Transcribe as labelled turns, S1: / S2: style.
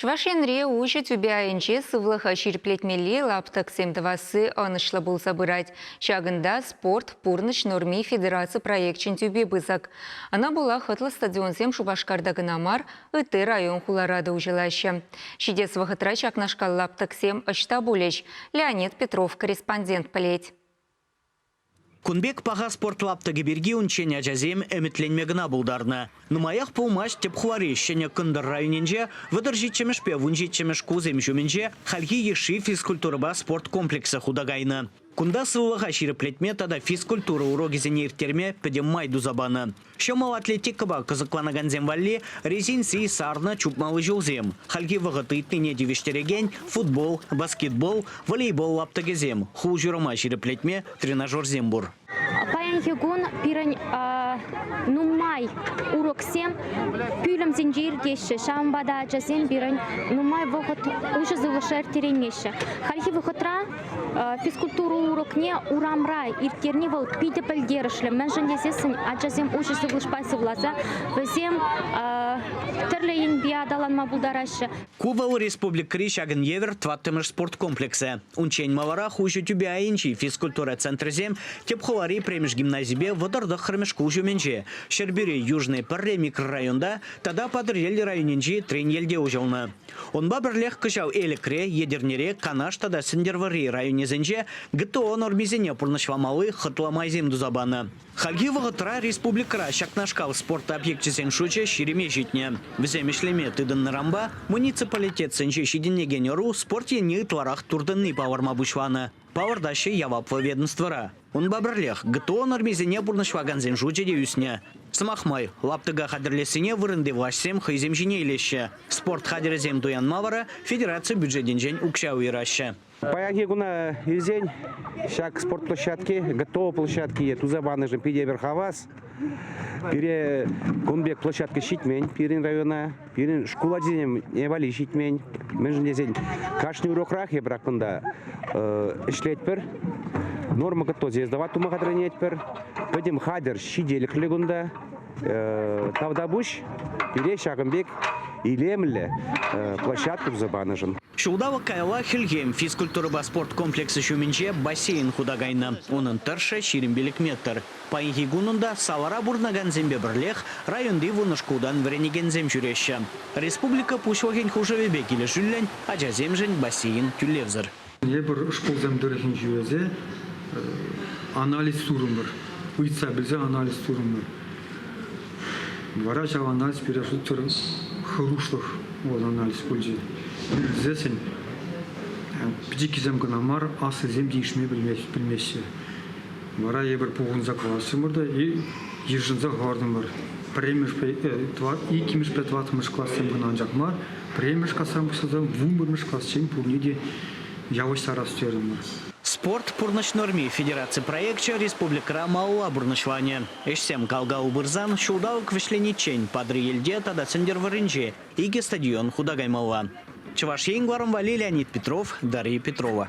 S1: Чӑваш Енре уҫӑ тӳпе айӗнче сывлӑха ҫирӗплетмелли лаптӑксем тӑвасси ӑнӑҫлӑ пулса пырать. Ҫакӑнта Спорт, пурнӑҫ норми федераци проекчӗн тӳпи пысӑк. Ӑна пула хӑтлӑ стадионсем Шупашкарта кӑна мар, ытти район-хулара та уҫӑлаҫҫӗ. Ҫитес вӑхӑтра ҫакнашкал лаптӑксем ӑҫта пулӗҫ, Леонид Петров корреспондент пӗлет.
S2: Кун пек паха спорт лаптӑкӗ пирки унччен ачасем ӗмӗтленме кӑна пултарнӑ. Нумаях пулмасть тӗп хулари Ҫӗнӗ Кӑнтӑр районӗнче вӑтӑр ҫиччӗмӗшпе вун ҫиччӗмӗш кусем ҫумӗнче хальхи йышши физкультурӑпа спорт комплексӗ хута кайнӑ. Кунта сывлӑха ҫирӗплетме тата физкультура урокӗсене ирттерме пӗтӗм май туса панӑ. Ҫӑмӑл атлетикӑпа кӑсӑкланакансем валли резинци, сарнӑ чупмалли ҫулсем, хальхи вӑхӑт ыйтнине тивӗҫтерекен футбол, баскетбол, волейбол лаптӑкӗсем, хул-ҫурӑма ҫирӗплетме тренажерсем пур. Паянхи кун
S3: пирӗн нумай уроксем пӳлӗмсенче иртеҫҫӗ, ҫавӑнпа та ачасем пирӗн нумай вӑхӑт уҫӑ сывлӑша ирттереймеҫҫӗ. Хальхи вӑхӑтра Физкультура урокне урамра ирттерни вӑл питӗ пӗлтерӗшлӗ, мӗншӗн тесессӗн ачасем уҫӑ сывлӑшпа сывласа вӗсем тӗрлӗ енпе аталанма пултараҫҫӗ. Кубал
S2: республикӑри ҫакӑн евӗр тӑваттӑмӗш спорт комплексӗ. Унччен маларах уҫӑ тӳпе айӗнчи физкультура центрӗсем тӗп хулари пӗрремӗш гимназипе вӑтӑр тӑххӑрмӗш шкул ҫумӗнче, Ҫӗрпӳри Южный Пӗрре микрорайонта тата Патӑрьел районӗнчи Треньелте уҫӑлнӑ. Унпа пӗрлех кӑҫал Элӗкре, Етӗрнере, Канаш тата Сӗнтӗрвӑрри районӗсенче ГТО нормисене пурнӑҫламалли хӑтлӑ майсем туса панӑ. Хальхи вӑхӑтра республикӑра ҫакнашкал спорт объекчӗсен шучӗ ҫирӗме ҫитнӗ. Вӗсем ӗҫлеме тытӑннӑранпа муниципалитетсенче ҫитӗнекен ӑру спорт енне ытларах туртӑнни палӑрма пуҫланӑ. палӑртаҫҫӗ яваплӑ ведомствӑра. Унпа пӗрлех ГТО нормисене пурнӑҫлакансен шучӗ те ӳснӗ. Сӑмах май, лаптӑка хатӗрлессине вырӑнти влаҫсем хӑйсем ҫине илеҫҫӗ. Спорт хатӗрӗсем туянма вара федераци бюджетӗнчен укҫа уйӑраҫҫӗ. Паянхи куна
S4: илсен ҫак спорт площадки, ГТО площадкине туса панӑшӑн питӗ эпир хавас. Пире кун пек площадка ҫитмен пирӗн района. Пирӗн шкул ачисем вали ҫитмен. Мӗншӗн тесен кашни урокрах эпир кунта ӗҫлетпӗр. Норма готовности сдавать тума хатӗрленетпӗр. Пӗтӗм хатӗр ҫителӗклӗ кунта. Тавтапуҫ пире ҫакӑн пек илемлӗ площадка туса панӑшӑн. Ҫулталӑк каялла
S2: Хӗлхем физкультурӑпа спорт комплексӗ ҫумӗнче бассейн хута кайнӑ. Унӑн тӑршшӗ ҫирӗм пилӗк метр. Паянхи кун унта салара пурӑнакансемпе пӗрлех районти вунӑ шкултан вӗренекенсем ҫӳреҫҫӗ. Республика Пуҫлӑхӗн хушӑвӗпе килӗшӳллӗн ачасемшӗн бассейн тӳлевсӗр. Тепӗр шкулсем
S5: тӑрӑхӗнче ӗҫе анализ турӑмӑр, ыйтса пӗлсе анализ турӑмӑр. Вара ҫав анализ пире шутсӑр хӑрушлӑх вӑл анализ пулчӗ. Илсессӗн пӗчӗккисем кӑна мар, аслисем те ишме пӗлмеҫҫӗ. Вара эпир пухӑнса классӑмӑр та йышӑнса хӑвартӑмӑр. Пӗрремӗшпе, иккӗмӗшпе тӑваттӑмӗш классем кӑна анчах мар, пӗрремӗш класран пуҫласа вунпӗрмӗш классен пурне те явӑҫтарас терӗмӗр. Спорт, пурнӑҫ
S2: норми федераци проекчӗ республикӑра малалла пурнӑҫланӗ. Ӗҫсем кал-кал пырсан, ҫулталӑк вӗҫлениччен Патӑрьелте тата Сӗнтӗрвӑрринче икӗ стадион хута каймалла. Чӑваш Ен кӑларӑм валли Леонид Петров, Дарья Петрова.